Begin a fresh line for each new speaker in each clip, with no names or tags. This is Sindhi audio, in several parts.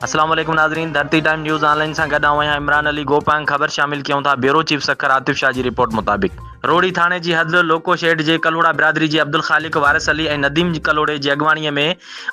السلام عليڪم ناظرين Dharti time news online سان گڏ آئون آهيان عمران علي گوپانگ خبر شامل ڪيون ٿا بيورو چيف سکر عاطف شاهه جي رپورٽ مطابق روهڙي ٿاڻي جي حد لوڪو شيڊ جي ڪلهوڙا برادري جي عبدالخالق وارث علي ۽ نديم ڪلهوڙي جي اڳواڻي ۾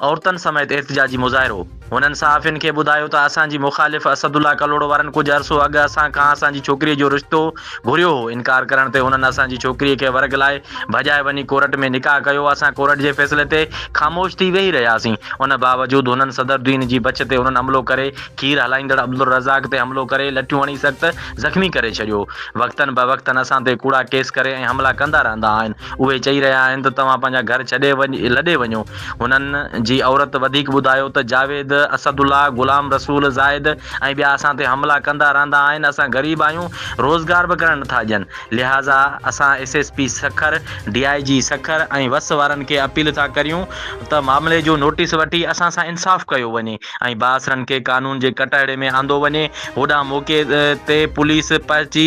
عورتن سميت احتجاجي مظاهرو هنن صحافين کي ٻڌايو ته اسان جي مخالف اسد الله ڪلهوڙو وارن ڪجهه عرصو اڳ اسان کان اسان جي ڇوڪريء جو رشتو گهريو هو، انڪار ڪرڻ تي هنن اسان جي ڇوڪريء کي ورغلائي ڀڄائي وڃي ڪورٽ ۾ نڪاح ڪيو، اسان ڪورٽ جي فيصلي تي خاموش ٿي ويهي رهياسين، ان باوجود هنن صدرالدين جي بڇ تي هنن حملو ڪري کير هلائيندڙ عبدالرزاق تي حملو ڪري لٺيون هڻي سخت زخمي ڪري ڇڏيو، وقتن بوقتن اسان تي ڪوڙا ڪيس ڪري ۽ حملا ڪندا رهندا آهن، اهي چئي رهيا آهن ته توهان پنهنجا گهر ڇڏي لڏي وڃو، هنن جي عورت وڌيڪ ٻڌايو ته جاويد، اسد الله، غلام رسول، زاهد ۽ ٻيا اسان تي حملا ڪندا رهندا آهن، اسان غريب آهيون، روزگار به ڪرڻ نٿا ڏين، لهٰذا اسان S S P Sukkur, D I G Sukkur ۽ وس وارن کي اپيل ٿا ڪريون ته معاملي جو نوٽيس وٺي اسان سان انصاف ڪيو وڃي ۽ بااثرن کي قانون جي ڪٽهڙي ۾ آندو وڃي، هوڏانهن موقعي تي پوليس پهچي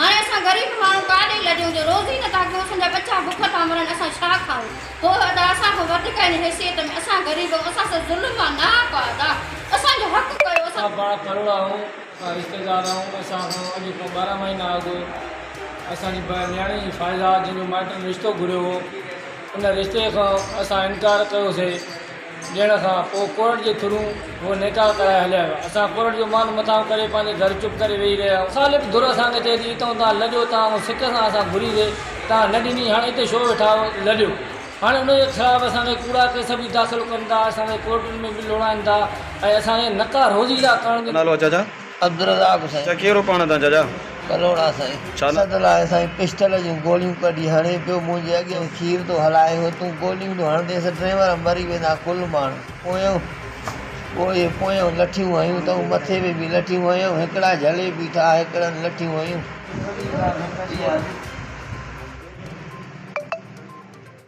هاڻي اسان غريب ماڻهو ڪاڏي لڏيون جو روز ئي نه ٿا ڪيون اسان جا ٻچا بک ٿا مرن اسان ڇا کائون هو ادا اسان کان وڌڪ آهن حيثيت ۾ اسان غريب آهيون اسان سان ظلم آهي نه آپا ادا اسان جو حق ڪيو اسان ادا پاڻ ڪروڙا آهيون
اسان رشتيدار آهيون اسان کان اڄ کان ٻارهن مهينا اڳ اسان جي نياڻي جي فائزه جنهن جو مائٽن رشتو گهريو هو ان رشتي کان اسان انڪار ڪيوسي ڏيڻ کان پوء ڪورٽ جي ٿرو هو نيڪا ڪرائي هليا ويا. اسان ڪورٽ جو مان مٿانهون ڪري پنهنجي گهر چپ ڪري ويهي رهيا. مخالف ڌر اسان کي چئي ٿي اتئون توهان لڏيو توهان کان سڪ سان اسان گهري سي توهان نه ڏني هاڻ اتي ڇو ويٺا آهيو لڏيو هاڻي ان جي خلاف اسان تي ڪوڙا ڪيس به داخل ڪن ٿا اسان کي ڪورٽن ۾ به لوڙائين ٿا ۽ اسان کي نڪا روزي ٿا ڪرڻ جي نالو اجازا
عبدالرزاق سائين.
ته ڪيرو پاڻ تان چاچا.
ڪلهوڙا سائين.
ڇا لاء. ست لاء سائين پسٽل جون گوليون ڪڍي هڻي پيو منهنجي اڳيان کير ٿو هلائي هو تون گوليون ٿو هڻندينس ڊريور مري ويندا ڪل ماڻهو پويان پوء پويان لٺيون هنيون تئون مٿي ۾ به لٺيون هنيائون هڪڙا جهلي بيٺا هڪڙن لٺيون هنيون.